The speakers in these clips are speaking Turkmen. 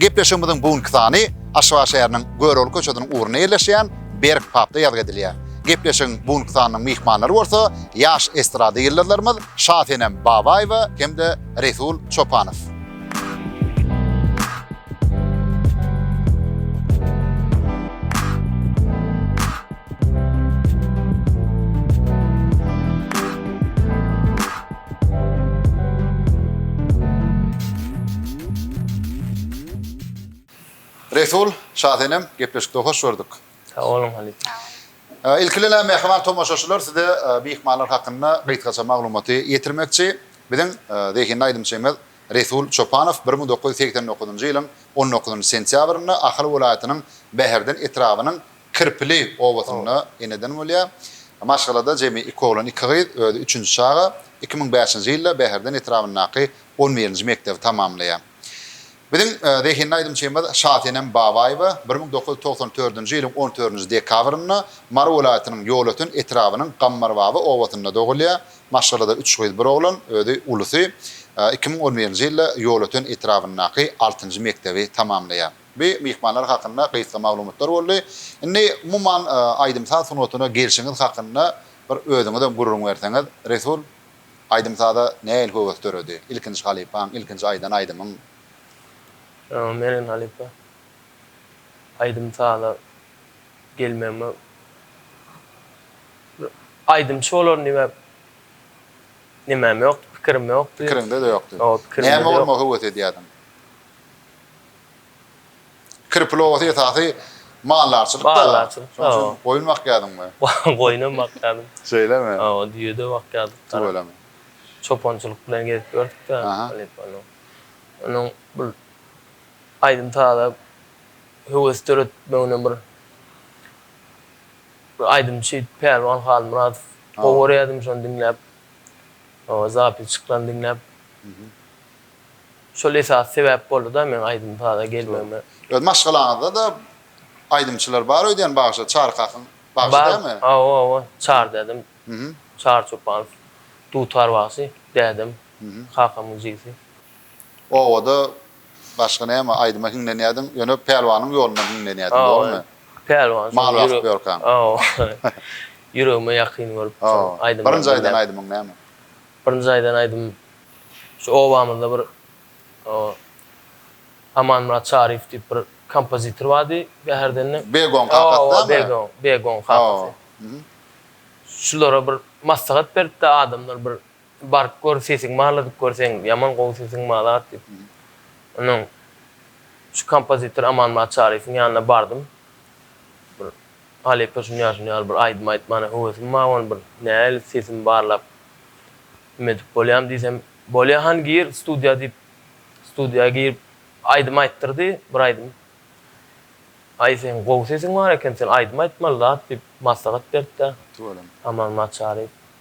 Gepleşigimiziň bu günki sany Aşgabat şäheriniň Görogly köçesiniň ugrunda ýerleşýän Berk papda ýazgy edilýär. Gepleşigiň bu günki sanynyň myhmanlary bolsa ýaş estrada ýyldyzlarymyz Şasenem Babaýewa hem-de Resul Çopanow. Resul, Şasenem, gepleşikde hoş gördük. Sag boluň halypa. Ilki bilen mähriban tomaşaçylar size myhmanlar hakynda gysgaça maglumaty ýetirmekçi. Biziň zehinli aýdymçymyz Resul Çopanow bir müň dokuz ýüz segsen dokuzynjy ýylyň on dokuzynjy sentýabrynda Ahal welaýatynyň Bäherden etrabynyň Kirpili obasynda eneden bolýar. Maşgalada jemi iki oglan, iki gyz, özi üçünji çaga. Iki müň bäşinji ýylda Bäherden etrabyndaky on birinji mekdebi tamamlaýar. Biziň zehinli aýdymçymyz Şasenem Babaýewa bir müň dokuz ýüz togsan dördünji ýylyň on dördünji dekabrynda Mary welaýatynyň Ýolöten etrabynyň Gammarbaba obasynda dogulýar. Maşgalada üç gyz, bir oglan, özi ulusy. Iki müň on birinji ýylda Ýolöten etrabyndaky altynjy mekdebi tamamlaýar. Bu myhmanlar hakynda gysga maglumatlar boldy. Indi umuman aýdym-saz sungatyna gelşiňiz hakynda bir özüňizem gürrüň berseňiz, Resul, aýdym-saza nähili höwes döredi? Ilkinji halypaň, ilkinji aýdan aýdymyň? Mergen halypa, aýdym-saza gelmegime bir aýdymçy bolaryn diýmän nemem ýokdy, pikirim ýokdy. Pikiriňde-de ýokdy. Näme bolmagy höwes edýärdiň? Kirpil obasy esasy maldarçylyk da. Maldarçylyk da. Şonuň üçin goýun bakýadyňmy? Goýun hem bakýadym. Şeýlemi? Hawa, düýe-de bakýardyk. Tüweleme. Çopançylyk bilen gezip ýördük-de. Onuň bir aýdym-saza höwes döretmegine bir bir aýdymçy Pälwan Halmyradow gowy görýärdim, şony diňläp, zapis çykylan diňläp. Şol esasy sebäp boldy-da meň aýdym-saza gelmegime. Öz maşgalaňyzda-da aýdymçylar bar öýdýän bagşy, Çary kakyň bagşy dälmi? Bar, hawa, hawa, Çary dädem, Çary Çopanow, dutar bagşy, dädem, kakamyň jigisi. Obada başga näme, aýdyma hiňlenýärdiň, ýöne Pälwanyň ýolundan hiňlenýärdiň, dogrumy? Pälwan, mal bakyp ýörkäň. Hawa, ýüregime ýakyn görüp, şol aýdymlary diňläp. Birinji aýdan aýdymyň näme? Birinji aýdan aýdym şu obamyzda bir Amanmyrat Çaryýew diýip bir kompozitor bardy. Bäherdenden. Begoň kakasy däl mi? Begoň, Begoň kakasy. Şulara bir maslahat beripdi adamlar bir baryp gör sesiň barla diýip gör seň ýaman gowy sesiň bar zat diýip. Ondan şu kompozitor Amanmyrat Çaryýewiň ýanyna bardym. Bir Halypa şuny ýaly şuny ýaly bir aýdym aýtmana höwesim bar ony bir nähili sesimi barlap kim edip bolýam diýsem bolýa hany gir studiýa diýip studiýa girip aýdym aýtdyrdy bir aýdym aý seň gowy sesiň bar eken sen aýdym aýtmaly zat diýip maslahat beripdä Aman Maçaryýew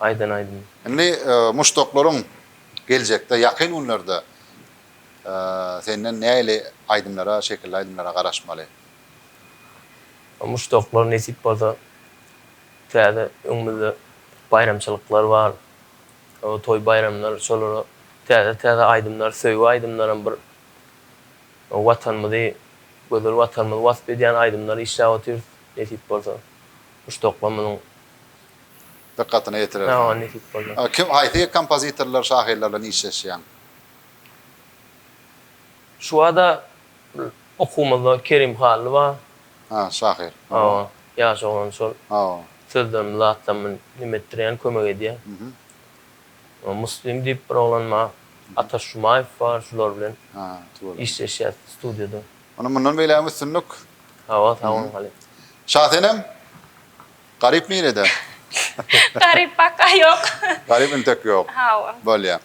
aýdan aýdym. Indi muşdaklaryň geljekde ýakyn günlerde senden nähili aýdymlara şekilli aýdymlara garaşmaly? Muşdaklar nesip bolsa täze öňümizde baýramçylyklar bar toý baýramlar şolara täze täze aýdymlar söýgi aýdymlaram bir watanymyzy gözel watanymyzy wasp edýän aýdymlar işläp otyrys nesip bolsa. Guş dokma munuň dykgatyna ýetirer. Maňa nesip boldy. Kim, haýsy kompozitorlar, şahyrlar bilen işleşýäň? Şu bada okuwymyzda Kerim Hally bar. Hä, şahyr. Hawa, ýaş oglan şol. Hawa. Sözlerimi zatlamy neme etdirýän, kömek edýär. Muslim diýip bir oglan bar. Ataş Jumaýew bar, şular bilen işleşýäs studiýada. Ony mundan beýlägem üstünlik. Hawa sag boluň halypa. Şasenem Garyp nirede? Garyp paka ýok. Garyp intek ýok. Hawa. Bolýa.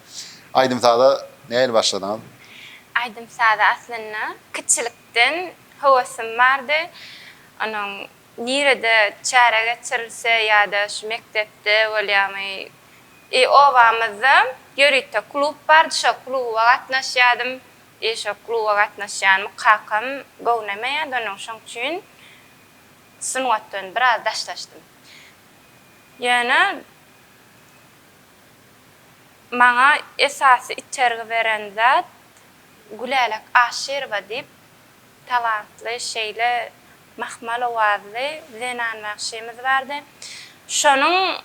Aýdym saza nähili başladyňyz? Aýdym saza aslynda kiçilikden höwessim bardy. Onuň nirede çäre geçirilse ýa-da şu mekdepde bolýamy obamyzda ýörite klub bardy şo kluba gatnaşýadym. Eý şo kluba gatnaşýanmy kakam gownemeýärdi onuň şoň üçin sungatdan biraz daşlaşdym. Ýöne maňa esasy itergi beren zat Gülälek Aşyrowa diýip talantly şeýle mahmal owazly zenan bagşymyz bardy. Şonuň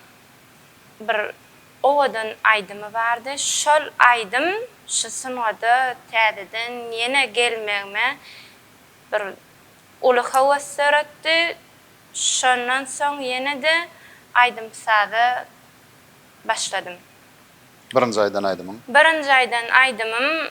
bir Owadan aýdymy bardy. Şol aýdym şu sungada täzeden ýene gelmegime bir uly höwes döretdi. Şondan soň ýene-de aýdym-saza başladym. Birinji aýdan aýdymyň? Birinji aýdan aýdymym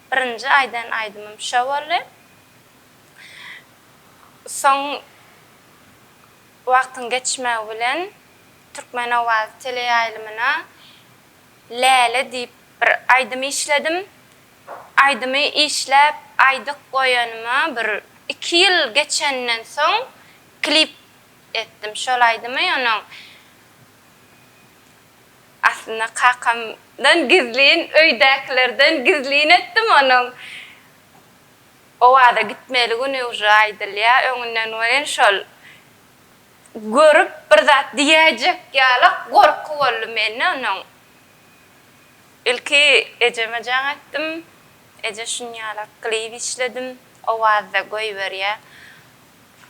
Birinji aýdan aýdymym şo boldy. Soň wagtyň geçmegi bilen Türkmen owazy teleýaýlymyna Läle diýip bir aýdym işledim. Aýdymy işläp aýdyk goýanyma bir iki ýyl geçenden soň klip etdim şol aýdymy. Onnoň Aslynda kakamdan gizlin, öýdäkilerden gizlin etdim onuň Owaza gitmeli güni uje aýdylýa öňünden welin şol görüp bir zat diýäýjek ýalak gorky boldy mende onuň. Ilki ejeme jaň etdim. Eje şunýalak klip işledim Owazda goýberýä.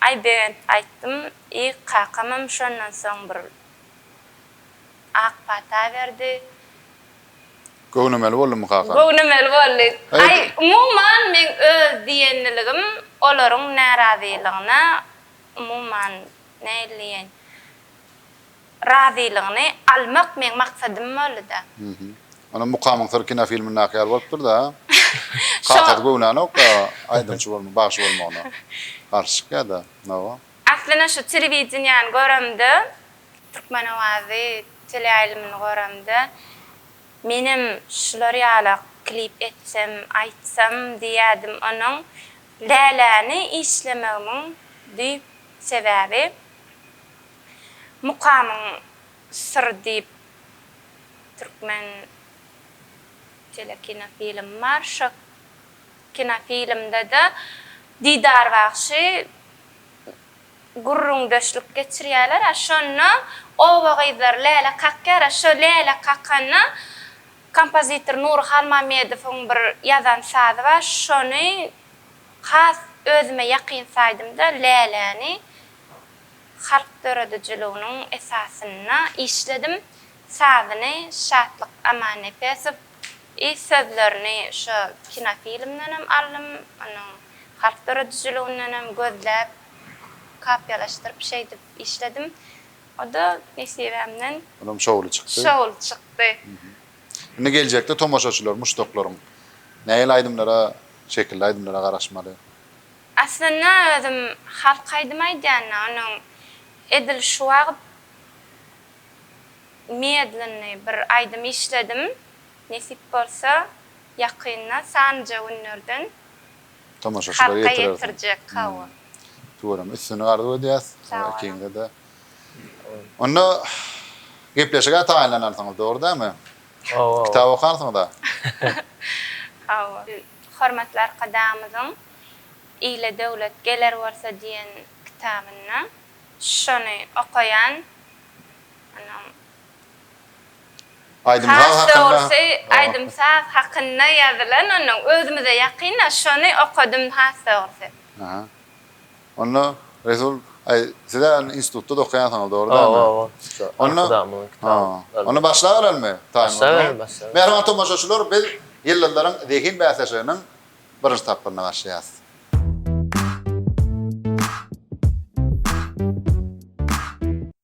Aýbegent aýtdym. Ýy kakamam şondan soň bir Ak pata berdi. Göwnemeli boldumy kaka? Göwnemeli boldy. Aý, umuman, meň öz diýenligim olaryň närazylygyna, umuman, nähili diýeýin, razylygyny almak meň maksadym boldy-da. Onda Mukamyň syry kinofilmindaky ýaly bolupdyr-da. Kakasy göwnänok-da aýdymçy bolmagyna, bagşy bolmagyna garşy çykýar-da. Hawa. Aslynda şu telewideniýäni göremde, Türkmen owazy teleýaýlymyny göremde, menem şular ýala klip etsem, aýtsam diýýädim. Onuň Läläni işlemegimiň düýp sebäbi Mukamyň syry diýip türkmen telekinofilmi bar. Şo kinofilmde-de Didar bagşy gürrüňdeşlik geçirýärler, a şonda oba gyzlary läle kakýar, a şo läle kakanda kompozitor Nury Halmamedowyň bir ýazan sazy bar, şony has özüme ýakyn saýdym-da, läläni halk döredijiliginiň esasynda işledim, sazyny Şatlyk Amannepesow, I sözlerini şo kinofilmdenem aldym, onuň harp döredijiligindenem gözläp, kopiýalaşdyryp şeýdip işledim. O-da nesibämden. Olam şowly çykdy. Şowly çykdy. Indi geljekde tomaşaçylar, muşdaklaryň nähili aýdymlara, şekilli aýdymlara garaşmaly? Aslynda özüm halk aýdymy aýdýan-da, onuň edil şu wagt Medlenny bir aýdym işledim. Nesip bolsa ýakynda sanjy günlerden Tomaşaçylara halka ýetirersiň. ýetirjek hawa. Tuweleme üstünlik arzuw edýäs Sag bolun. ikiňizede. Onda gepleşige taýynlanarsyňyz dogry dälmi? Hawa. Kitap okarsyňyza. Hawa. Hormatly Arkadagymyzyň Ile döwlet geler bolsa diýen kitabynda şony okaýan. Has dogrusy, aýdym-saz hakynda ýazylan onuň özümize ýakyn-a, şony okadym has dogrusy. Aha. Onda, Resul, aý, siz-ä indi institutda-da okaýansyňyz, dogry dälmi? Hawa, arkadagymyň kitaby. Onda başlabereliňmi? Başlabereli, başlabereli. Mähriban tomaşaçylar, biz Ýyldyzlaryň zehin bäsleşiginiň birinji tapgyryna başlaýarys.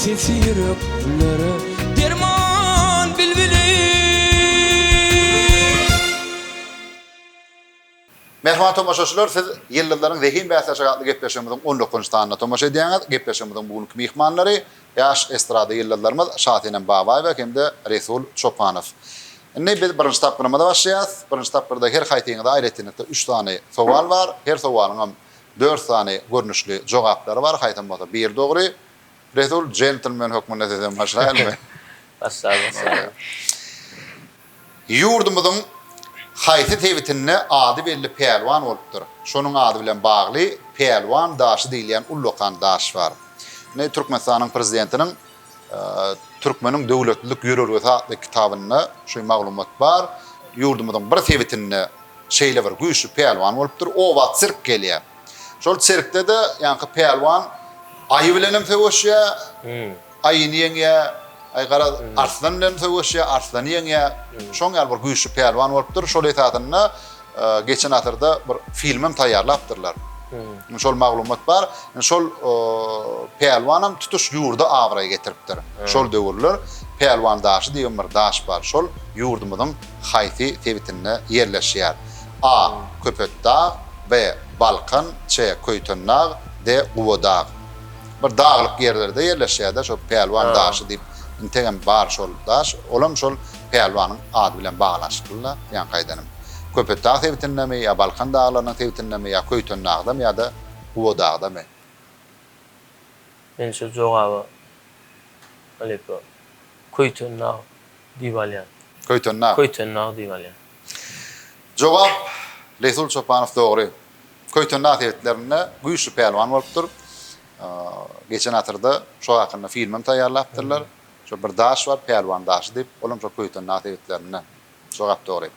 Sesi ýüreklere derman bilbiliň. Mähriban tomaşaçylar, siz Ýyldyzlaryň zehin bäsleşigi atly gepleşigimiziň on dokuzynjy sanyna tomaşa edýäňiz. Gepleşigimiziň bu günki myhmanlary, ýaş estrada ýyldyzlarymyz Şasenem Babaýewa hem-de Resul Çopanow. Indi biz birinji tapgyrymyza başlaýarys. Birinji tapgyrda her haýsyňyza aýratynlykda üç sany sowal bar. Her sowalyňam Dört sany görnüşli jogaplary bar, haýsam bolsa biri dogry. Resul, jentlmen hökmünde sizden başlaýalymy? Başla, başla. Ýurdumyzyň haýsy sebitinde ady belli pälwan bolupdyr? Şonuň ady bilen bagly Pälwan daşy diýilýän ullakan daş bar. Indi Türkmenistanyň Prezidentiniň Türkmeniň döwletlilik ýörelgesi atly kitabynda şu maglumat bar. Ýurdumyzyň bir sebitinde şeýle bir güýçli pälwan bolupdyr. Oba sirk gelýär. Şol sirkde-de ýaňky pälwan aýy bilen hem söweşýär, aýyny ýeňýär, aý garaz, arslan bilen söweşýär, arslany ýeňýär. Şoň ýaly bir güýçli pälwan bolupdyr. Şol esasynda geçen asyrda bir film hem taýýarlapdyrlar. Hmm. Şol maglumat bar. Şol pälwan hem tutuş ýurda abraý getiripdir. Hmm. Şol döwürler Pälwan daşy diýen bir daş bar. Şol ýurdumyzyň haýsy sebitinde ýerleşýär? A. Hmm. Köpetdag, B. Balkan, C. Köýtendag, D. Gubadag. Bir daglyk ýerlerde ýerleşýär-de şol Pälwan daşy diýip, integem bar şol daş. Olam şol Pälwanyň ady bilen baglanyşykly-la, ýaňky aýdanym. Köpetdag sebitindemi ýa Balkan daglarynyň sebitindemi ýa Köýtendagdamy ýa-da Guwadagdamy? Men şu jogaba halypa Köýtendag diýip alýan. Köýtendag? Köýtendag diýip alýan. Jogap, Resul Çopanow dogry. Köýtendag sebitlerinde güýçli pälwan bolupdyr. Geçen asyrda şo hakynda filmem taýýarlapdyrlar. Şo bir daş bar, Pälwan daşy diýip, olam şo Köýten daş egitlerinden. Şo gap dogry.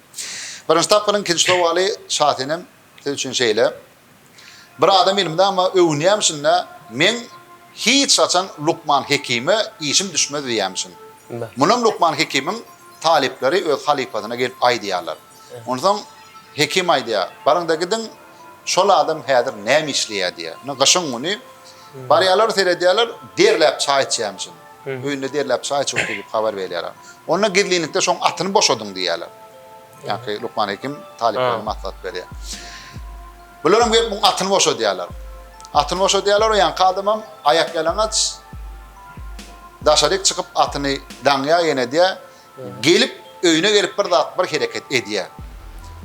Birinji tapgyryň ikinji sowaly Şasenem siz üçin şeýle. Bir adam ilmde ama öwünýämişin-dä, meň hiç haçan Lukman Hekime işim düşmez diýýämişin. Munam Lukman Hekimiň talyplary öz halypasyna gelip aýdýarlar. Onsoň hekim aýdýar, Baryň-da gidiň, şol adam häzir näme işleýär diýýär. Indi gyşyň güni barýarlar, seredýärler, derläp çaý içýärmişin. Öýünde derläp çaý içipdir diýip habar berýärler. Onda gizlinlikde şoň atyny boşadyň diýýärler. Ýaňky lukman hekim talyplaryna maslahat berýär. Bularam gelip muň atyny boşadýarlar. Atyny boşadýarlar, o ýaňky adamam aýakýalaňaç daşaryk çykyp atyny daňýar, ýenedýär. Gelip, öýüne gelip bir zat, bir hereket edýär.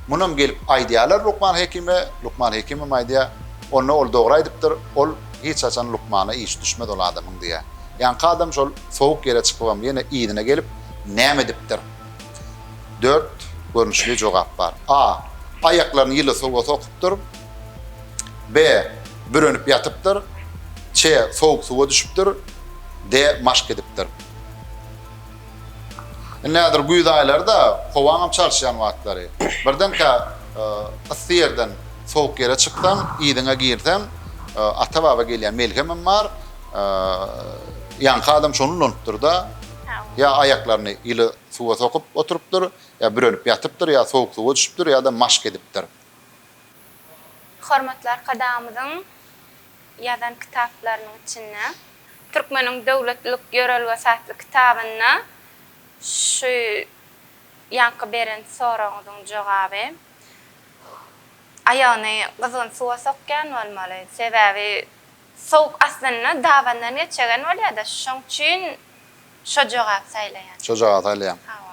Munam gelip aýdýarlar lukman hekime, lukman hekimem aýdýar, Onda ol dogry aýdypdyr, ol hiç haçan lukmana iş düşmez ol adamyň diýýär. Ýaňky adam şol sowuk ýere çykypam ýene yzyna gelip, näme edipdir? Dört görnüşli jogap bar. A. Aýaklaryny ýyly suwa sokupdyr. B. Bürenip ýatypdyr. Ç. Sowuk suwa düşüpdir. D. Maşk edipdir. Indi häzir güýz aýlary-da, howaňam çalyşýan wagtlary. Birdenkä yssy ýerden sowuk ýere çyksaň, yzyňa girseň, ata-baba gelýän melhemem bar. Ýaňky adam şony ulanypdyr-da, ýa aýaklaryny ýyly suwa sokup oturypdyr, ýa bürenip ýatypdyr, ýa sowuk suwa düşüpdir, ýa-da maşk edipdir. Hormatly Arkadagymyzyň ýazan kitaplarynyň içinde Türkmeniň döwletlilik ýörelgesi atly kitabynda şu ýaňky beren soragyňyzyň jogaby aýagyny gyzgyn suwa sokýan bolmaly. Sebäbi sowuk aslynda dabandan geçegen bolýada şoň üçin şo jogaby saýlaýan. Şo jogaby saýlaýaň. Hawa.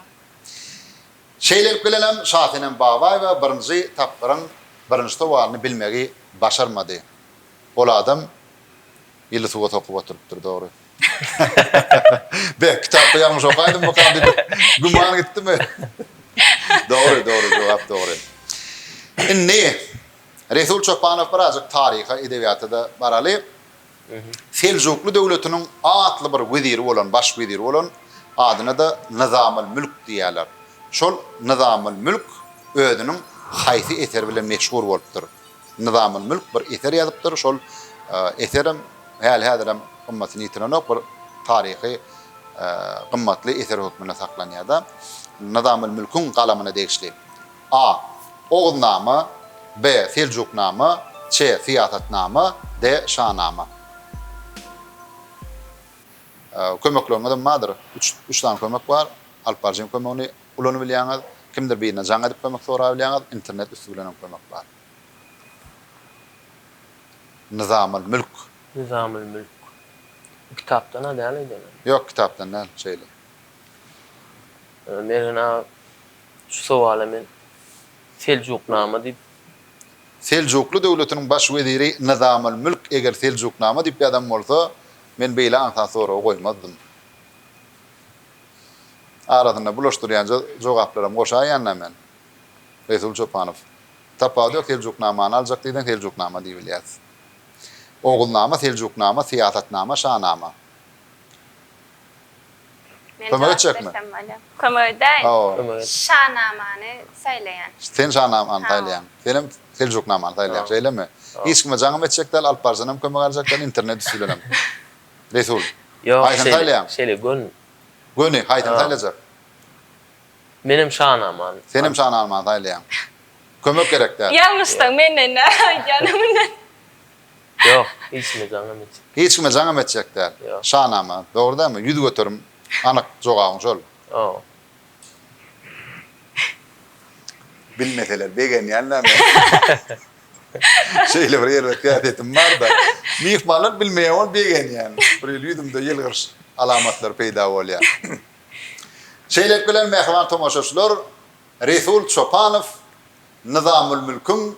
Şeýlelik bilenem Şasenem Babaýewa birinji tapgyryň birinji sowalyny bilmegi başarmady. Ol adam ýyly suwa sokup oturypdyr, dogry. Be, kitapda ýalňyş okaýdymmykam diýip güman gitdimi? Dogry, dogry, jogap dogry. Indi Resul Çopanow birazjyk taryha, edebiýata-da baraly. Seljukly döwletiniň atly bir weziri bolan, baş weziri bolan, adyna-da Nyzamylmülk diýýärler. Şol Nyzamylmülk özüniň haýsy eseri bilen meşhur bolupdyr? Nyzamylmülk bir eser ýazypdyr, şol eserem häli-häzirem gymmatyny ýitirenok, bir taryhy gymmatly eser hökmünde saklanýar-da. Nyzamylmülküň galamyna degişli. A. Oguznama B. Seljuknama C. Syýasatnama D. Şanama Kömekleriňizem bardyr. Üç, üç sany kömek bar. Alyp baryjyň kömegini ulanybilýäňiz. Kimdir birine jaň edip kömek sorabilýäňiz. Internet üsti bilen hem kömek bar. Nyzamul mülk. Nyzamul mülk. Bu kitapdan-a däl eýdemem. Ýok, kitapdan däl, şeýle. Mergen aga Şu sowala men Seljuknama diýip. Seljukly döwletiniň baş weziri Nyzamylmülk eger Seljuknama diýip ýazan bolsa, men beýle aňsat soragy goýmazdym. Arasynda bulaşdyrýanja jogaplaram goşaýan-da men. Resul Çopanow. Tapawut ýok, Seljuknamany aljak diýseň Seljuknama diýibilýär. Oguznama, Seljuknama, Syýasatnama, Şanama. Kömek etjekmi? Kömek edäýin. Şanamany saýlaýan. Sen şanamany saýlaýan. Senem Seljuknamany saýlaýan. Şeýlemi? Hiç kime jaňam etjek däl, Alyp Baryjanam kömek aljak däl, internet üsti bilenem. Resul. Haýsyny saýlaýaň? Şeýle göni. Göni, haýsyny saýlajak? Menem şanamany. Senem şanamany saýlaýaň. Kömek gerek däl. Ýalňyşsaň menden näme aýdýanyň bilen. Ýok, hiç kime jaňam etjek. Hiç kime jaňam etjek däl. Ýok. Şanama, dogry dälmi? Ýüz göterim anyk jogabyň şol. Hawa. Bilmeseler begenýänler men. Şeýle bir erbet häsiýetim bar-da. Myhmanlar bilmeýär bolup begenýän. Bir hili ýüzümde ýylgyryş alamatlary peýda bolýar. Şeýlelik bilen mähriban tomaşaçylar Resul Çopanow Nyzamulmülküň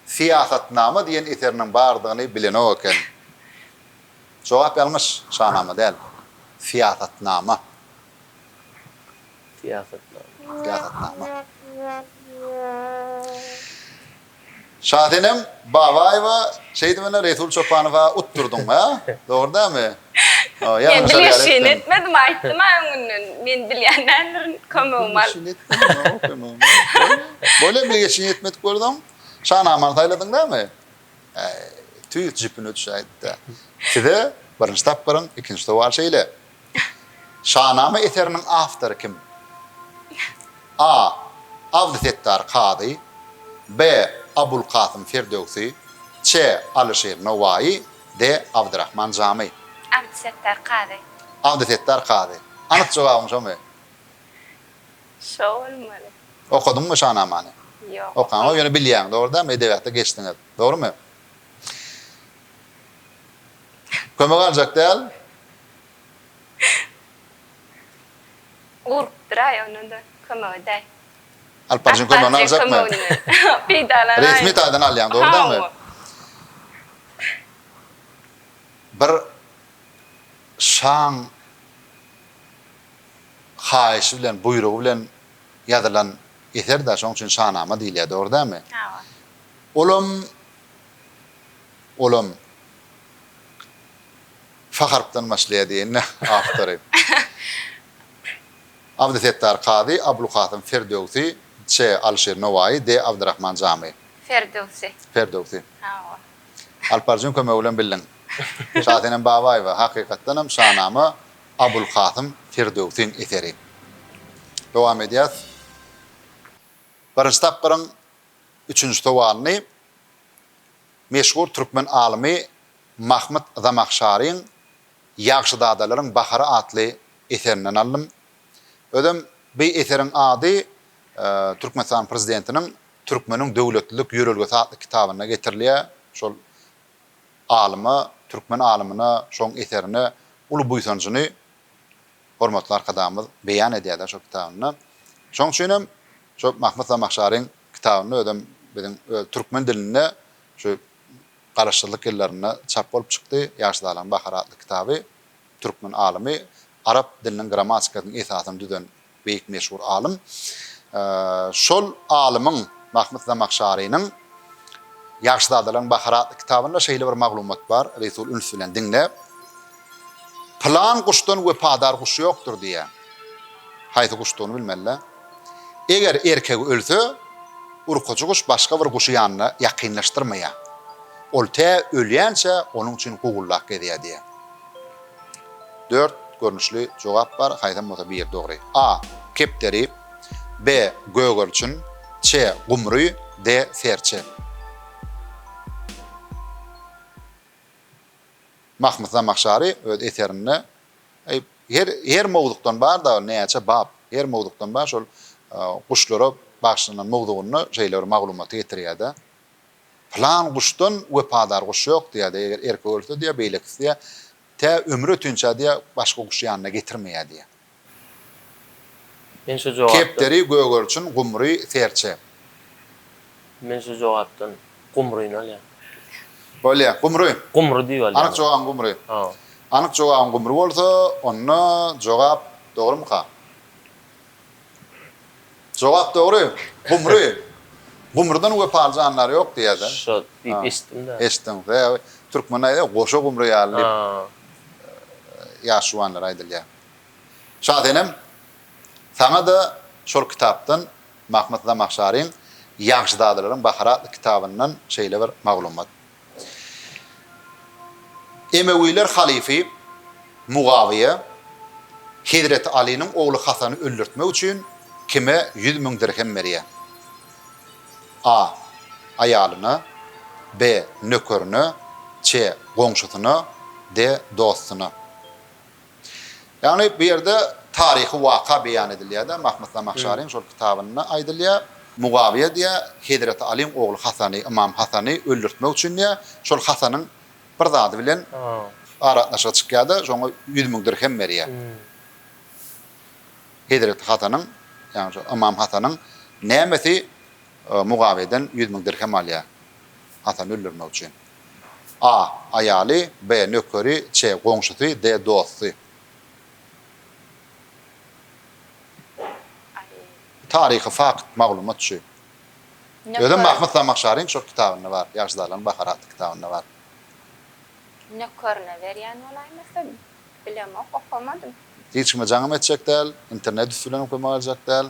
Syýasatnama diýen eseriniň bardygyny bilenok eken. Jogap ýalňyş, Şanama däl, Syýasatnama. Syýasatnama. Syýasatnama. Şasenem Babaýewa şeýdibine Resul Çopanowa utdurdyň-a, dogry dälmi? Men dil ýaşyny etmedim, aýtdym-a öňünden. Men dil ýan däldirin, kömegim al. Dil ýaşyny etmediň-ow, kömegim al. Bolýa, dil ýaşyny etmedik bolsaň, Şanamany saýladyň dälmi? Äý, tüýs jüpüne düşäýdi-de. Size birinji tapgyryň ikinji sowaly şeýle. Şanama eseriniň awtory kim? A. Abdysetdar Kazy. B. Abulkasym Firdöwsi. Ç. Alyşir Nowaýy. D. Abdyrahman Jamy. Abdysetdar Kazy. Abdysetdar Kazy. Anyk jogabyň şomy? Şo bolmaly. Okadyňmy Şanamany? Ýok, okaman. Okaňok, ýöne bilýäň, dogrudanmy? Edebiýata geçdiňiz. Dogrumy? Kömek aljak däl. Urupdyr-aý, ony-da kömek edäý. Alyp baryjyň kömegini aljakmy? Peýdalanaýyn. Resmi taýdan alýaň, dogrudanmy? Bir şaň haýyşy bilen, buýrugy bilen ýazylan eser-dä, şonuň üçin şanama diýilýär, dogry dälmi? Hawa. Olam, olam F harpdan başlaýar diýenini awtory. Abdysetdar Kazy, Abulkasym Ferdöwsi, Ç. Alyşir Nowaýy, D. Abdyrahman Jamy. Ferdöwsi. Ferdöwsi. Hawa. Alparjyň kömegi bilen bildiň. Şasenem Babaýewa, hakykatdanam, Şanama Abulkasym Ferdöwsiň eseri. Dowam edýäs. Birinji tapgyryň üçünji sowalyny meşhur türkmen alymy Mahmyt Zamahşaryň Ýagşyzadalaryň bahary atly eserinden aldym. Özem bi eseriň ady Türkmenistanyň Prezidentiniň Türkmeniň döwletlilik ýörelgesi atly kitabynda getirilýär. Şol alyma, türkmen alymyna şoň eserine uly buýsanjyny hormatly Arkadagymyz beýan edýär-de şo kitabynda. Şoň üçin hem şo Mahmyt Zamahşaryň kitabynda özem biziň öz türkmen dilinde şu Garaşsyzlyk ýyllarynda çap bolup çykdy. Ýaşyzalaryň bahary atly kitaby türkmen alymy, arap diliniň grammatikasynyň esasyny düzen beýik meşhur alym. Şol alymyň, Mahmyt Zamahşarynyň Ýaşyzadalaryň bahary atly kitabynda şeýle bir maglumat bar, Resul üns bilen diňle. Pylan guşdan wepadar guş ýokdur diýýän. Haýsy guşdugyny bilmeli-dä. Eger erkegi ölse, urkujy guş başga bir guşy ýanyna ýakynlaşdyrmaýar. Ol tä ölýänçä onuň üçin gugullap gezýär diýýär. Dört görnüşli jogap bar, haýsam bolsa biri dogry. A. Kepderi. B. Gögerçin. Ç. Gumry. D. Serçe. Mahmyt Zamahşary öz eserinde Eý, her her mowzukdan bar dagy näçe bap, her mowzukdan bar şol guşlara bagyşlanan mowzugynda şeýle bir maglumaty getirýär-de, Pylan guşdan wepadar guş ýok diýýär diýýär, eger erkek ölse diýýär, beýlekisi diýýär, tä ömrü ötinçä diýýär, başga guşy ýanyna getirmeýär diýýär. Men şu jogapdan. Kepderi, gögerçin, gumry, serçe. Men şu jogapdan gumryny alýan. Üç. Bolýa, gumry. Gumry diýip alýan. Anyk jogabyň gumry. Hawa. Anyk jogabyň gumry bolsa, onda jogap dogrumyka? Jogap dogry. Gumry. Gumrydan wepaly jandar ýok diýýär-dä. Şo diýip eşitdim-dä. Eşitdiň. Sebäbi türkmende aýdýar, goşa gumry ýaly diýip, ýaş juwanlara aýdylýar. Şasenem, saňa-da şol kitapdan, Mahmyt Zamahşaryň Ýagşyzadalaryň bahary atly kitabyndan şeýle bir maglumat. Emewiler halyfy Mugawyýa hezreti Alynyň ogly Hasany öldürtmek üçin kime ýüz müň dirhem berýär? A. Aýalyna. B. Nökerine. Ç. Goňşusyna. D. Dostuna. Ýagny bu ýerde taryhy waka beýan edilýär-de, Mahmyt Zamahşaryň şol kitabynda aýdylýar, Mugawyýa diýýär, Hezreti Alyň ogly Hasany, Ymam Hasany öldürtmek üçin diýýär, şol Hasanyň bir zady bilen aragatnaşygy çykýar-da, şoňa ýüz müň dirhem berýär. Hezreti Hasanyň, ýagny şol Ymam Hasanyň nämesi Mugawyýadan ýüz müň dirhem alýar Hasany öldürmek üçin. A. Aýaly, B. Nökeri, C. Goňşusy, D. Dosty. Taryhy fakt, maglumat şu. Özem Mahmyt Zamahşaryň şol kitabynda bar, Ýaşzalaryň bahary atly kitabynda bar. Nökerine berýän bolaýmasa, bilemok, okamadym. Hiç kime jaňym etjek däl, internet üsti bilen okamaga aljak däl.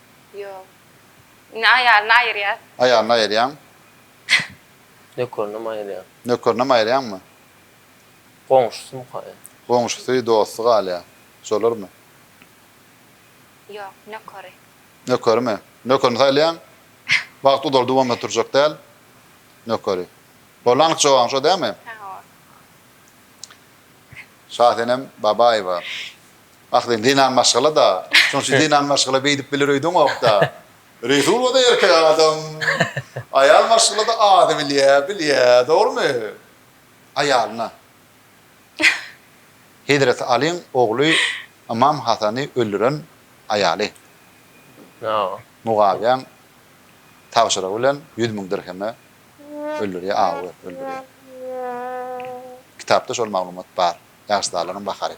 Ýok. Indi aýalyny aýyrýar. Aýalyny aýyrýaň. Nökerinem aýyrýar. Nökerinem aýyrýaňmy? Goňşusymyka? Goňşusy, dosty galýar. Şolarmy? Ýok, nökeri. Nökerimi? Nökerini saýlaýaň. Wagt uzaldy bolmasa turjak däl. Nökeri. Boldy anyk jogabyň şo dälmi? Hawa. Şasenem Babaýewa. Ah sen zenan maşgala-da. Şonçy zenan maşgala beýdip biler öýdeňok-da. Resulada erkek adam. Aýal maşgala-da azy bilýä, bilýä. Dogrumy? Aýalyna. Hezreti Alyň ogly Ymam Hasany öldüren aýaly. Mugawyýaň tabşyrygy bilen ýüz müň dirheme öldürýär, awy berip öldürýär. Kitapda şol maglumat bar. Ýaşydalygynyň bahary.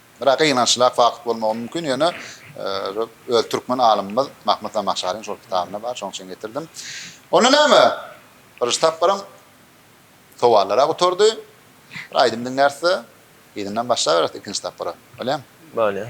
Biraz gynançlylak fakt bolmagy mümkin, ýöne öz türkmen alymymyz Mahmut Zamahşaryň şol kitabynda bar, şoň üçin getirdim. Onda näme? Birinji tapgyryň sowallara gutardy. Bir aýdym diňläris-de, yzyndan başlaberis ikinji tapgyra. Bolýamy? Bolýar.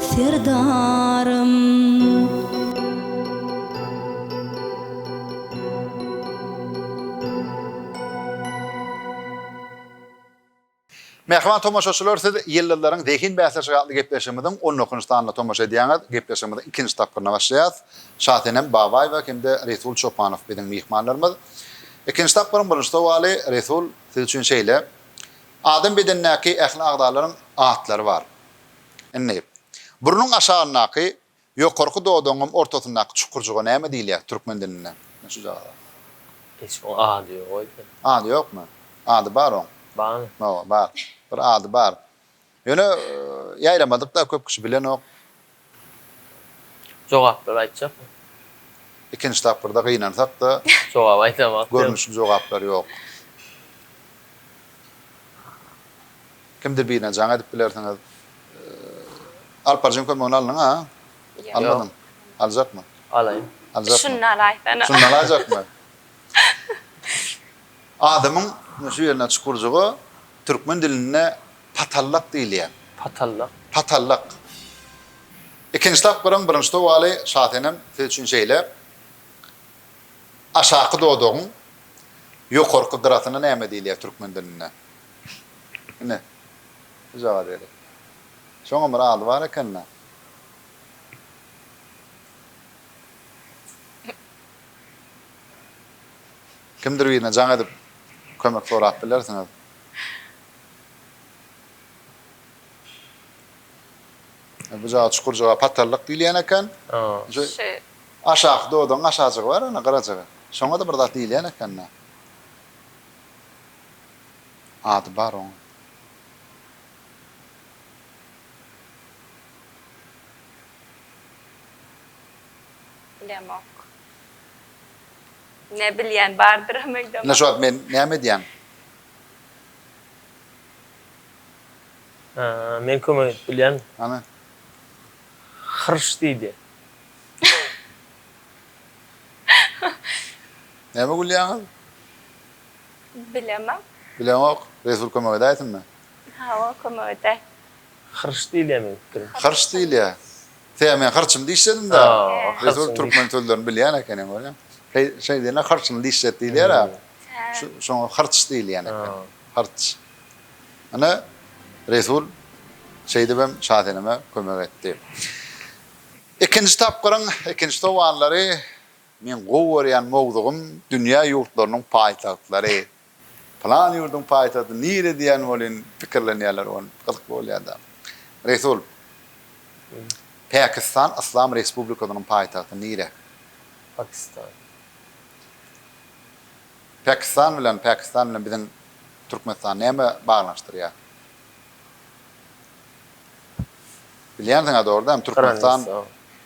Serdarym. Mähriban tomaşaçylar, siz Ýyldyzlaryň zehin bäsleşigi atly gepleşigimiziň on dokujy sanyna tomaşa edýäňiz. Gepleşigimiziň ikinji tapgyryna başlaýarys. Şasenem Babaýewa hem-de Resul Çopanow biziň myhmanlarymyz. Ikinji tapgyryň birinji sowaly, Resul, siz üçin şeýle, Adam bedenindäki ähli agzalaryň atlary bar. Indi, burnuň aşagyndaky ýokarky dodagyňam ortasyndaky çukurjyga näme diýilýär türkmen dilinde? Şujagaza. Hiç bir ady ýok öýdýän. Ady ýokmy? Ady bar oň. Barmy? Hawa, bar. Bir ady bar. Ýöne, ýaýramadyk-da, köp kişi bilenok. Jogaplary aýtjakmy? Ikinji tapgyrda gynansak-da. Jogaby aýdamak ýok. Görnüşli jogaplary ýok. Kimdir birine jaň edip bilersiňiz. Alparjyň kömegini aldyňa? Almadyň. Aljakmy? Alaýyn. Aljakmy? Şuny alaý sana. Şuny alajakmy? Adamyň şu ýerine çukurjyga türkmen dilinde patallak diýilýär. Patallak. Patallak. Ikinji tapgyryň birinji sowaly şasenem siz üçin şeýle. Aşaky dodagyň ýokarky gyrasyna näme diýilýär türkmen dilinde? Ine, bujag-a derek. Şoňam bir ady bar eken-dä. Kimdir birine jaň edip, kömek sorap bilersiňiz. Bujaga çukurjyga patarlyk diýilýän eken. Şu aşaky dodagyň aşajygy bar, ana, gyrajygy. Şoňa-da bir zat diýilýän eken-dä. Ady bar oň. Bilemok. Ne bilýän bardyram öýdemok. Ine şu wagt men näme edýän? Men kömek edip bilýän. Hany. Hyrş diýdi. Näme gülýäňiz? Bilemok. Bileňok. Resul kömek edäýsinmi? Hawa, kömek edäý. Hyrç diýilýär meň pikirimçe. Hyrç diýilýär. Tä men hyrçym diýişedim-dä. Resul türkmen sözlerini bilýän ekeniň görýäň. Şeý, şeý diýilýär, hyrçyny diýişjek diýilýär-ä. Şu, şoňa hyrç diýilýän eken. Hyrç. Ine, Resul şeýdibem Şaseneme kömek etdi. Ikinji tapgyryň ikinji sowallary Meň gowy görýän mowzugym dünýä ýurtlarynyň paýtagtlary. Pylan ýurduň paýtagty nire diýen welin pikirlenýärler ony. Gyzykly bolýada. Resul. Pakistan Yslam Respublikasynyň paýtagty nire? Pakistan. Pakistan bilen Pakistan bilen biziň Türkmenistan näme baglanyşdyrýar? Bilýänsiňä dogry dämi Türkmenistan.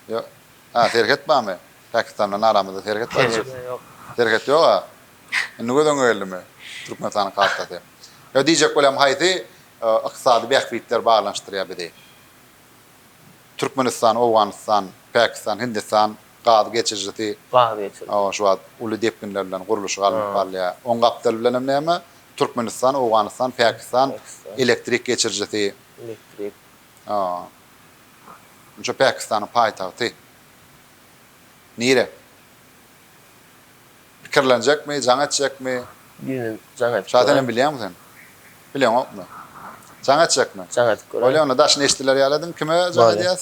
Ýok. Hä serhet bamy Pakistandan aramyzda serhet bar diýip. Serhet ýok. Serhet ýok a. Indi göz öňe geldimi Türkmenistanyň kartasy. Ýa diýjek bolýam haýsy ykdysady bähbitler baglanyşdyrýar bizi. Türkmenistan, Owganystan, Pakistan, Hindistan gaz geçirijisi. Gaz geçiriji. Hawa şu wagt uly depginler bilen gurluşygy alnyp barylýar. Oň gapdaly bilen hem näme Türkmenistan, Owganystan, Pakistan elektrik geçirijisi. Elektrik. Onça Pakistanyň paýtagty nire? Pikirlenjekmi, jaň etjekmi? Düýn jaň etip Şa senem bilýäňmi sen? Bileňokmy? Jaň etjekmi? Jaň edip göräýiň. Bolýa onda daşyny eşidiler ýaly ediň. Kime jaň edýäs?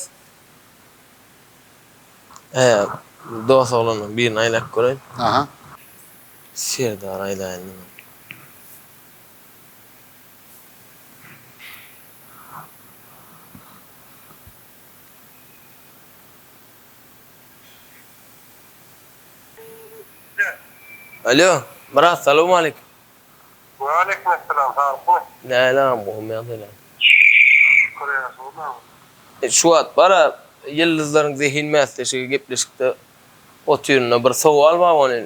Dos oglandan birini aýlap göräýiň. Aha. Serdary aýlaýyn diňe. Alo, Myrat, salowmaleýkim. Waleýkimessalam, salykmy? Däl agam, gowy ýagdaýlar. Şükür, ýagşymyz. Şu wagt bar-a, ýyldyzlaryň zehin bäsleşigi gepleşikde otyryn-da, bir sowal bar, ony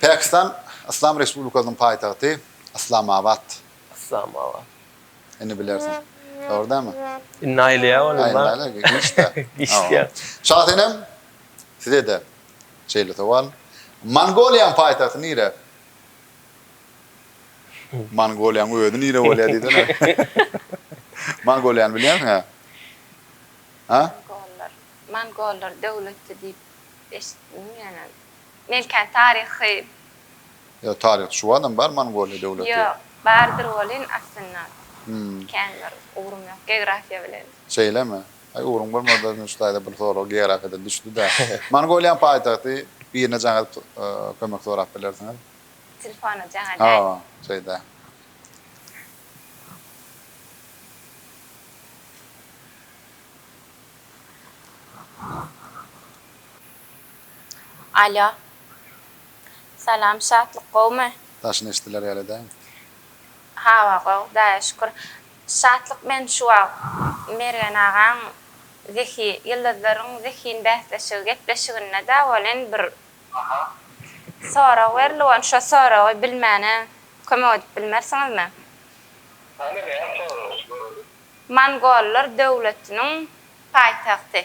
Pakistan Yslam Respublikasynyň paýtagty Yslamabad. Yslamabad. Indi bilersiň. Dogry dälmi? Indi aýlaýar ol indi. Aýlaýar, giçdi. Giçdi. Şasenem, size-de şeýle sowal. Mongoliýanyň paýtagty nire? Mongoliýanyň özi nire bolýar diýsene. Mongoliýany bilýärsiň-ä? Mongollar. Mongollar döwletdi diýip eşitdim ýöne. Melkan taryhy. Ýa taryhçy şuwadam bar Mongoliýa döwleti. Ýok, bardyr welin aslynda kän bir ugrum ýok geografiýa bilen. Şeýlemi? Aý ugruň bolmasa Künç daýza bir sorag geografiýadan düşdüdä. Mongoliýanyň paýtagty birine jaň edip kömek sorap bilersiňiz. Telefona jaň edäýiň. Hawa, şeýdä. Alo. Salam Şatlyk gowmy. Daşyny eşdiler ýaly däl. Hawa gowy hudaýa şükür. Şatlyk men şu wagt Mergen agaň zehi ýyldyzlaryň zehin bäsleşigi gepleşiginde dä welin bir sorag berildi welin şo soragy bilmäne kömek edip bilmersiňizmi? Hany näme soragmyş göreli. Mongollar döwletiniň paýtagty.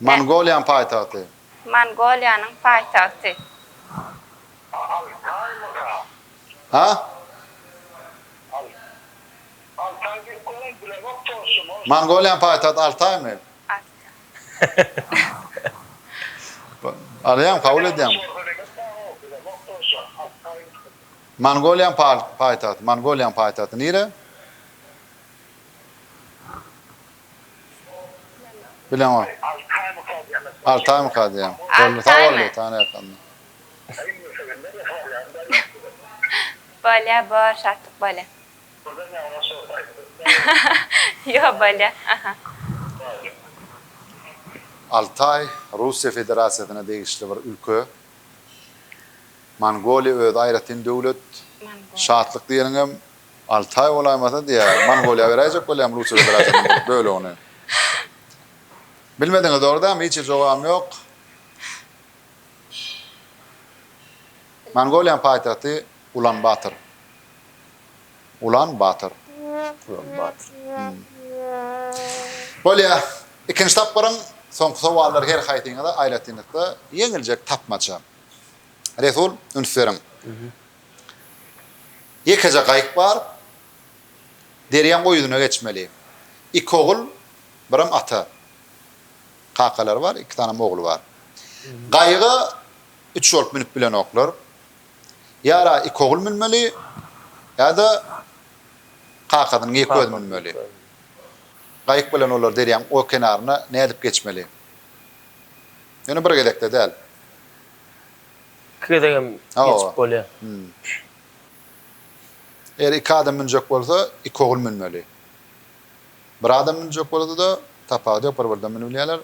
Mongoliýanyň paýtagty. Mongoliýanyň paýtagty. Mongoliýanyň paýtagty Altaýmy? Alýaňmy, kabul edýäňmi? Mongoliýanyň paýtagty. Mongoliýanyň paýtagty nire? Altaý, Russiýa Federasiýasyna degişli bir ülke. Mongoliýa özi aýratyn döwlet. Şatlyk diýeniňem Alty aý bolaýmasa diýä Mongoliýa beräýjek bolýam Russiýa Federasiýasynyň bir bölegini. Bilmediňiz dogry dämi hiç hili jogabym ýok. Mongoliýanyň paýtagty Ulan Bator. Ulan Bator. Ulan Bator. Bolýa. Ikinji tapgyryň soňky sowallary her haýsyňyza aýratynlykda ýeňiljek tapmaça. Resul üns beriň. Ýekeje gaýyk bar. Derýaň o ýüzüne geçmeli. Iki ogul, birem ata. Kakalary bar, iki sanem ogly bar. Gaýyga üç bolup münüp bilenoklar. Ýa-da iki ogul münmeli, ýa-da kakasynyň ýeke özi münmeli. Gaýyk bilen olar derýaň o kenaryna nädip geçmeli? Ýöne bir gezekde däl. Iki gezegem geçip bolýa. Eger iki adam münjek bolsa, iki ogul münmeli. Bir adam münjek bolsa-da, tapawudy ýok, bir birden münübilýärler.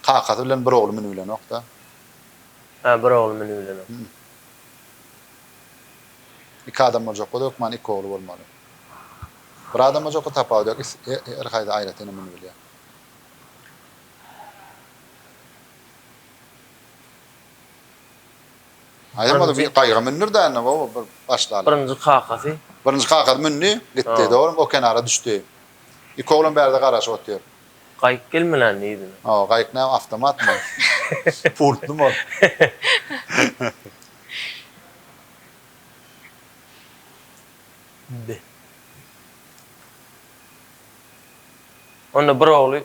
Kakasy bilen bir ogly münübilenok-da. Hä, bir ogly münübilenok. Iki adam boljak bolsa, hökman iki ogly bolmaly. Bir adam boljakka tapawudy ýok, her haýsy aýratynam münübilýär. Aýam ol bir gaýyga mündür däne gowy bir başlaly. Birinji kakasy. Birinji kakasy mündi, gitdi. Dogrymy o kenara düşdi. Iki oglan bärde garaşyp otyr. Gaýyk gelmeländi yzyna. Hawa, gaýyk näme awtomatmy? Pultlymy ol? Be. Onda bir ogly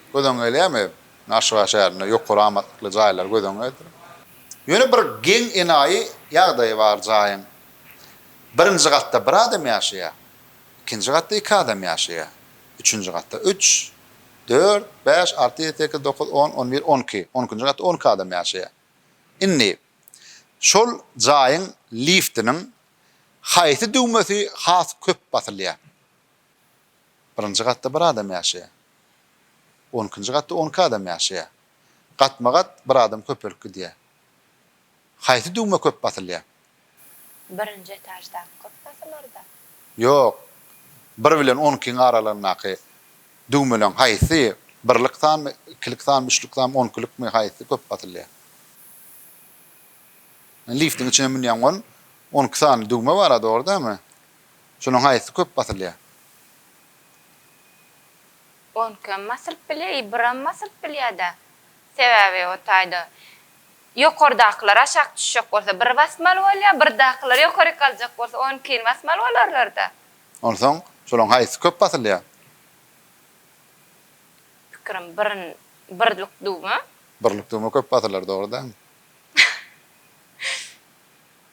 Göz öňüňe gelýärmi? Aşgabat şäherinde ýokary amatlykly jaýlar göz öňüňe getir. Ýöne bir geň enaýy ýagdaýy bar jaýyň. Birinji gatda bir adam ýaşaýar. Ikinji gatda iki adam ýaşaýar. Üçünji gatda üç, dört, bäş, alty, ýedi, sekiz, dokuz, on, on bir, on iki. On ikinji gatda on iki adam ýaşaýar. Indi, şol jaýyň liftiniň haýsy düwmesi has köp basylýar? Birinji gatda bir adam ýaşaýar. On ikinji gatda on iki adam ýaşaýar. Gatma-gat bir adam köpelip gidýär. Haýsy düwme köp basylýar? Birinji etaždaky köp basylar-da. Ýok. Bir bilen on ikiň aralygyndaky düwmeleň haýsy, birlik sanmy, ikilik sanmy, üçlük sanmy, on ikilikmi, haýsy köp basylýar? Liftiň içine münýäň on, on iki sany düwme bar-a, dogry dälmi? Şunuň haýsy köp basylýar. Onkam basylyp bilýär i biram basylyp bilýärda. Sebäbi o taýda ýokardakylar aşak düşjek bolsa biri basmaly bolýar, birdakylar ýokary galjak bolsa onunkini basmaly bolarlarda. Onsoň şolaň haýsy köp basylýar. Pikirim birin birlik duma. Birlik duma köp basylar dogry dämi.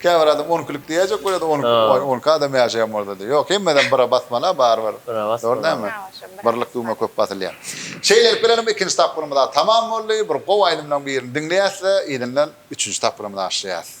Käbir adam on ikilik diýäýjek bolýar da, on iki, oý, on iki adam ýaşaýan bolsa-da. Ýok, hemmedeem bire basmaly-a barybir. Bire basmaly. Dogry dälmi? Birlik düwme köp basylýar. Şeýlelik bilen hem ikinji tapgyrymyz-a tamam boldy. Bir gowy aýdymlaryň birini diňleýäs we yzyndan üçünji tapgyra mynaşýas.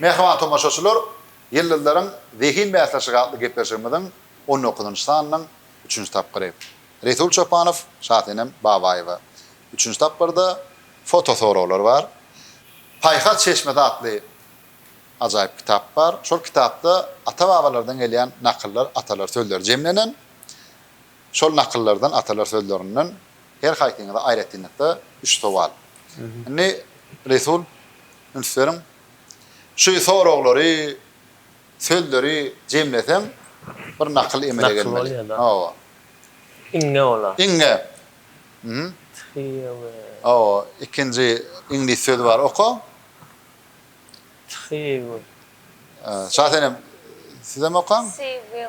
Mähriban tomaşaçylar, Ýyldyzlaryň zehin bäsleşigi atly gepleşigimiziň on dokuzynjy sanynyň üçünji tapgyry. Resul Çopanow, Şasenem Babaýewa. Üçünji tapgyrda fotosoraglar bar. Paýhas çeşmesi atly ajaýyp kitap bar. Şol kitapda ata-babalardan gelýän nakyllar, atalar sözleri jemlenen. Şol nakyllardan, atalar sözlerinden. Her haýsyňyza aýratynlykda üç sowal. Indi Resul, üns beriň. Şu soraglary, sözleri jemleseň, bir nakyl emele gelmeli. Nakyl bolýar-da. Hawa. Iňňe bolar. Iňňe. Hum. Thyýewe. Hawa, ikinji iňlis sözi bar, oka. Thyýewe. Şa senem, sizem okaň. Thyýewe.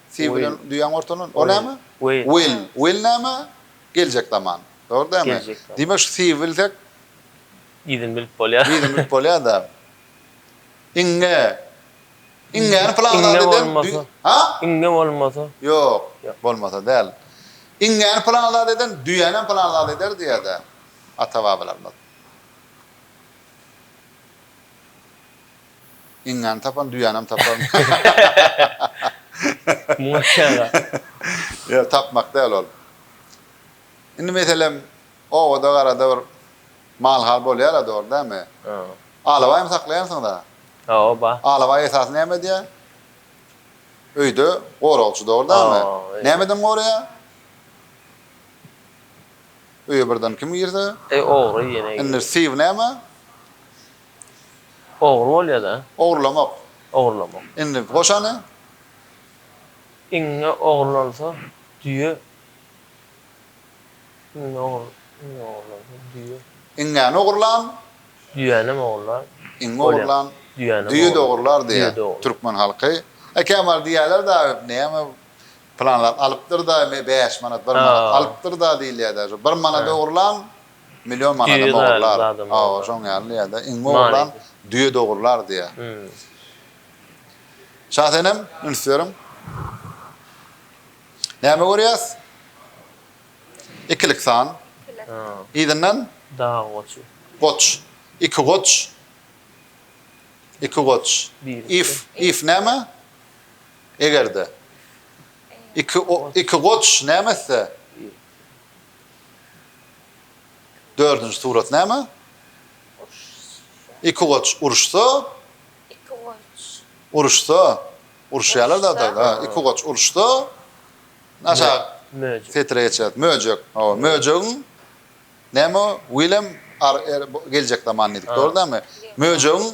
Siw bilen düýäň ortalan. O näme? Will. Will näme? Geljek zaman. Dogry dälmi? Diýmek şu siw bilsek. Yzyny bilip bolýar. Yzyny bilip bolýar-da. Iňňe. Iňňäni plan zat eden. Ha? Iňňe bolmasa. Ýok. Bolmasa däl. Iňňäni plan zat eden, düýänem plan zat eder diýýär-dä ata-babalarymyz. Iňňäni tapan düýänem tapar. Ýok, tapmak däl ol. Indi meselem, obada-garada bir mal-hal bolýar-a, dogry dälmi? Alabaýmy saklaýarsyňyz-a? Hawa. Alabaý esasy näme edýär? Öýde goragçy, dogry dälmi? Nämeden goraýar? Öýe birden kim girse? Ogry ýene girse. Indi syw näme? Ogry bolýada. Ogurlamak. Ogurlamak. Indi goşany. Iňňe ogurlansa düýe. Iňňe ogur, iňňe ogurlansa düýe. Iňňäni ogurlan. Düýänem ogurlar. Iňňe ogurlan. Düýänem ogurlar. Düýe-de ogurlar diýýär türkmen halky. He Kemal diýýärler dagy näme planlar alypdyr-da bäş manat, bir manat alypdyr-da diýilýär-dä. Şo bir manady ogurlan. Million manadam ogurlar. Hawa, şoň ýaly ýa-da iňňe ogurlan düýe-de ogurlar diýýär. Şasenem, üns beriň. Näme görýäs? Ikilik san. Yzyndan? Dag goçy. Goç. Iki goç. Iki goç. If. If näme? Eger-de. Iki goç näme etse? Dördünji surat näme? Iki goç uruşsa, Iki goç. uruşsa, uruşýarlar da da, ha, iki goç uruşsa, aşa Möjek. setire geçýär. Möjek, hawa, möjegiň näme o? Willem ar er geljek zaman diýdik, dogry dälmi? Möjegiň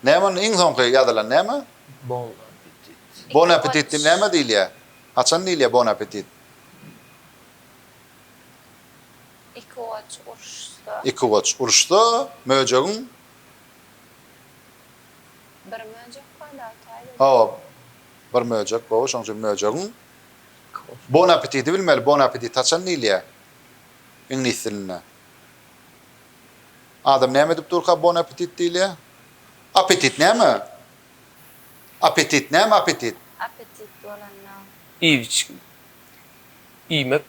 näme onda iň soňky ýazylan näme? Bon appetit. Bon appetit diýip näme diýilýär? Haçan diýilýär bon appetit? Ikiwaç uruşsa. Ikiwaç uruşsa, möjegiň. Bir möjek bar-da, Altayda. Hawa, bir möjek gowy, şonuň üçin möjegiň. Bon apetidi bilmeli, bon appetit haçan diýilýär iňlis dilinde? Adam näme edip durka bon appetit diýilýär? Appetit näme? Apetit näme apetit? Apetit bolanda. Iýip içgin. Iýmek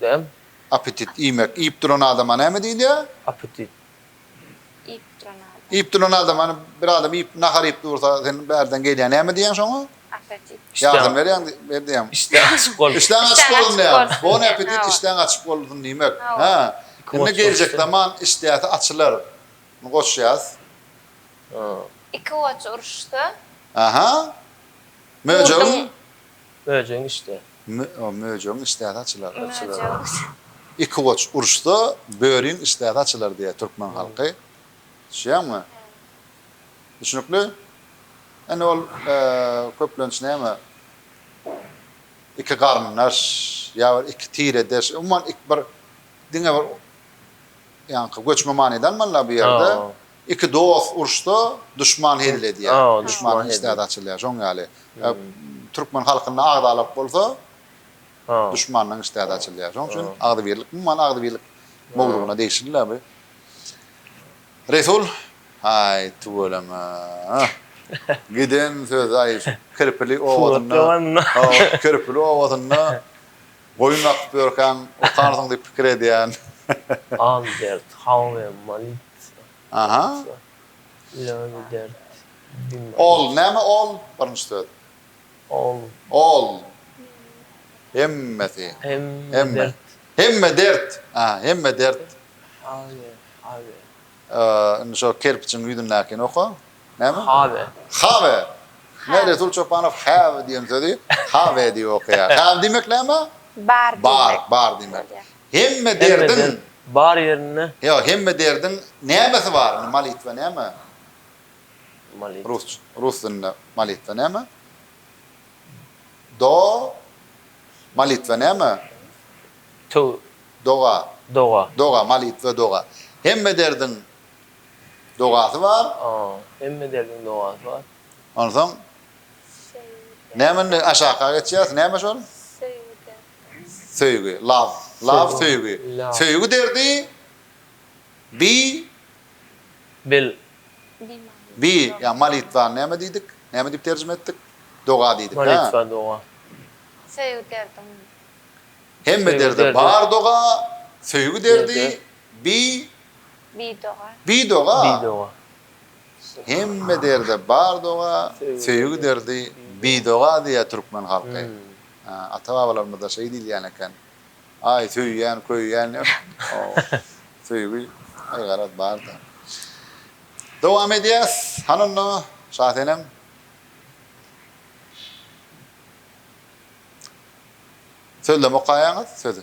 dämi? Apetit iýmek. Iýip duran adama näme diýilýär? Apetit. Iýip duran adam. Iýip duran adam hany bir adam iýip nahar iýip dursa sen bärden gelýän näme diýýäň şoňa? Apetit. Ýardam berýäň ber diýýäň. Işdäň açyk bolsun. Işdäň açyk bolsun diýýär. Bon apetit işdäň açyk bolsun diýmek. Hä. Indi geljek zaman işdäsi açylar. Muny goç ýaz. Iki goç uruşsa. Aha. Möjegiň. Möjegiň içde. Möjegiň içdäsi açylar. Iki goç uruşsa, böriň içdäsi açylar diýýär türkmen halky. Düşýäňmi? Düşnükli? Indi ol köplenç näme? Iki garyndaş, ýa bir iki tiredeş, umuman bir diňe bir Ýaňky göçme manyda almalylar bu ýerde. Iki dost urşsa, duşman hezil edýär. Duşmanyň işdäsi açylýar. Şoň ýaly. Türkmen halkynda agzalak bolsa, duşmanyň işdäsi açylýar. Şoň üçin agzybirlik, umuman agzybirlik mowzugyna degişlidir-le bu. Resul, Haý, tüweleme. Giden söz-aý, Kirpili obasynda, Kirpili obasynda Goýun bakyp ýörkäň okarsyň diýip pikir edýän. Albert Hauwe Malice Aha. Ilany dert bima. Ol, näme ol? Birinji söz. Ol. Ol. Hemmesi. Hemme dert. Hemme dert. Aha, hemme dert. Hauwe, Hauwe. Indi şo kerpijiň ýüzündäkini oka. Näme? Have. Have. Ine, Resul Çopanow have diýen sözi have diýip okaýar. Have diýmek näme? Bar diýmek. Bar, bar diýmek. Hemme derdiň. Bar ýerinde. Ýok, hemme derdiň nämesi bar? Indi molitwa näme? Molitwa. Rus, rus dilinde molitwa näme? Do. Molitwa näme? Töw. Doga. Doga. Doga, molitwa, doga. Hemme derdiň dogasy bar. A, hemme derdiň dogasy bar. Onsoň näme indi aşaka geçýäs, näme şol? Söýgi derdi. Söýgi, love, love söýgi. Söýgi derdi bi bil. Bi, ýa molitwa näme diýdik? Näme diýip terjime etdik? Doga diýdik, hä? Molitwa doga. Söýgi derdiň. Hemme derde bar doga, söýgi derdi Bi Bidoga. Bidoga. Bidoga. Hemme derde bar doga, söýgi derdi bidoga diýýär türkmen halky. Ata-babalarymyzda şeý diýilýän eken. Aý, söýýän, köýýän ýok. Söýgi aý garaz bar-da. Dowam edýäs. Hany onda, Şasenem. Sözlem okaýaňyz, sözi.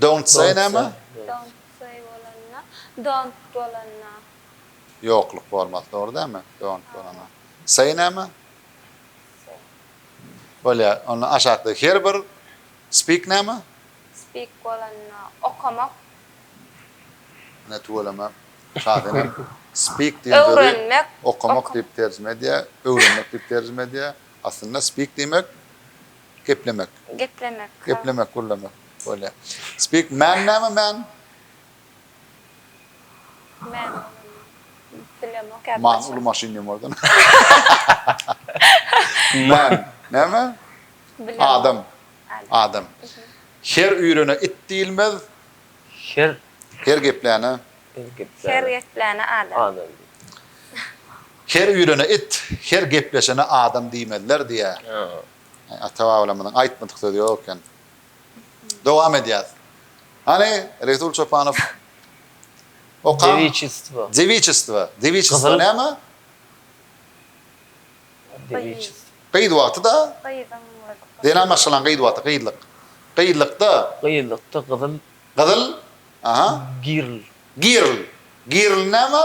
Don't say näme? Don't say bolanda, don't bolanda. Ýokluk bolmasy dogry dälmi? Don't bolanda. Say näme? Say. Bolýar. Onda aşakdaky her bir speak näme? Speak bolanda, okamak. Ine tüweleme. Şahin hem speak diýen sözi öwrenmek, okamak diýip terjime edýär, öwrenmek diýip terjime edýär. Aslynda speak diýmek. Geplemek. Geplemek. Geplemek, gürlemek. Bolýa. Speak man näme man? Man. Bilemok ýa. Man uly maşyn diýen boldy. Man näme? Bilemok. Adam. Adam. Her üýrene it diýilmez. Her. Her gepläne. Her gepläne. Her gepläne adam. Adam. Her üýrene it, her gepleşene adam diýmezler diýýär. Ata-babalarymyzyň aýtmadyk sözi ýok eken. Dowam edýäs. Hany, Resul Çopanow okan. Dewiçistwo. Dewiçistwo. Dewiçistwo näme? Dewiçistwo. Gyz wagty-da. Gyzyň wagty. Zenan maşgalaň gyz wagty, gyzlyk. Gyzlykda. Gyzlykda gyzyl. Gyzyl? Aha. Girl. Girl. Girl näme?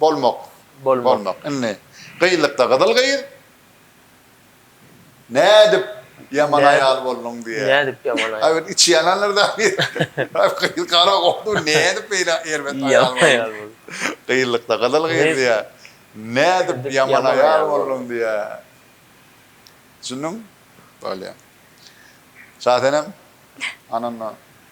bolmak bolmak indi gyzlykda gyzyl gyz nädip ýaman aýal bolduň diýýär nädip ýaman aýal bolduň içi ýanandyr da gyz gara gowy nädip beýle erbet aýal bolduň gyzlykda gyzyl gyz diýýär nädip ýaman aýal bolduň diýýär düşündiňmi bolýa şasenem anandan.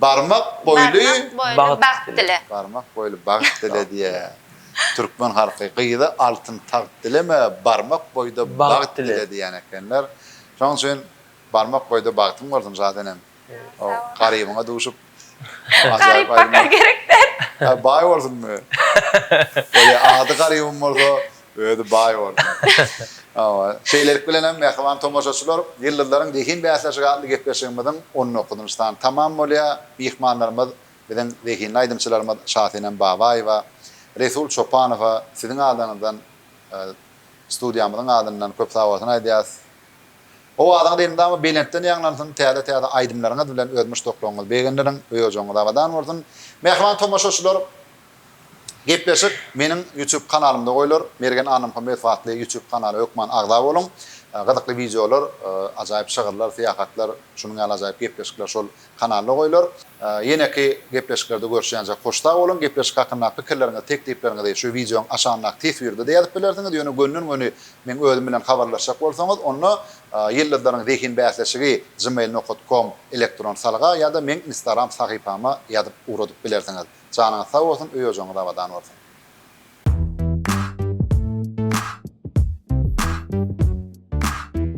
Barmak boýly bagt dile. Barmak boýly bagt dile diýýä türkmen halky. Gyza altyn tagt dileme, barmak boýda bagt dile diýýän ekenler. Şonuň üçin barmak boýda bagtyň bolsun Şadenem. O Garybyňa duşup Garyp baka gerek däl. Baý bolsun. Ýa ady Garybym bolsa Özi baý boldy. Hawa. Şeýlelik bilenem, mähriban tomaşaçylar, Ýyldyzlaryň zehin bäsleşigi atly gepleşigimiziň on dokuzynjy sany tamam bolýar. Myhmanlarymyz, biziň zehinli aýdymçylarymyz Şasenem Babaýewa, Resul Çopanowa siziň adyňyzdan, studiýamyzyň adyndan köp sagbolsun aýdýarys. Owazyňyz elmydama belentden ýaňlansyn, täze-täze aýdymlaryňyz bilen öz muşdaklaryňyzy begendirin, öý-ojagyňyz abadan bolsun. Mähriban tomaşaçylar, Gepleşik meniň YouTube kanalymda goýlar Mergen Annamhamedowa atly YouTube kanaly hökman agza boluň Gyzykly wideolar ajaýyp şygyrlar syýahatlar şunuň ýaly ajaýyp gepleşikler şol kanalda goýlar Ýeneki gepleşiklerde görüşýänçä hoş sag boluň Gepleşik hakyndaky pikirleriňizi teklipleriňizi şu wideoň aşagyndaky teswirde-de ýazyp bilersiňiz ýöne gönden göni meň özüm bilen habarlaşjak bolsaňyz onda Ýyldyzlaryň zehin bäsleşigi gmail nokat kom elektron salga ýa-da meň instagram sahypama ýazyp ugradyp bilersiňiz. Janyňyz sag bolsun öý ojagyňyz abadan bolsun.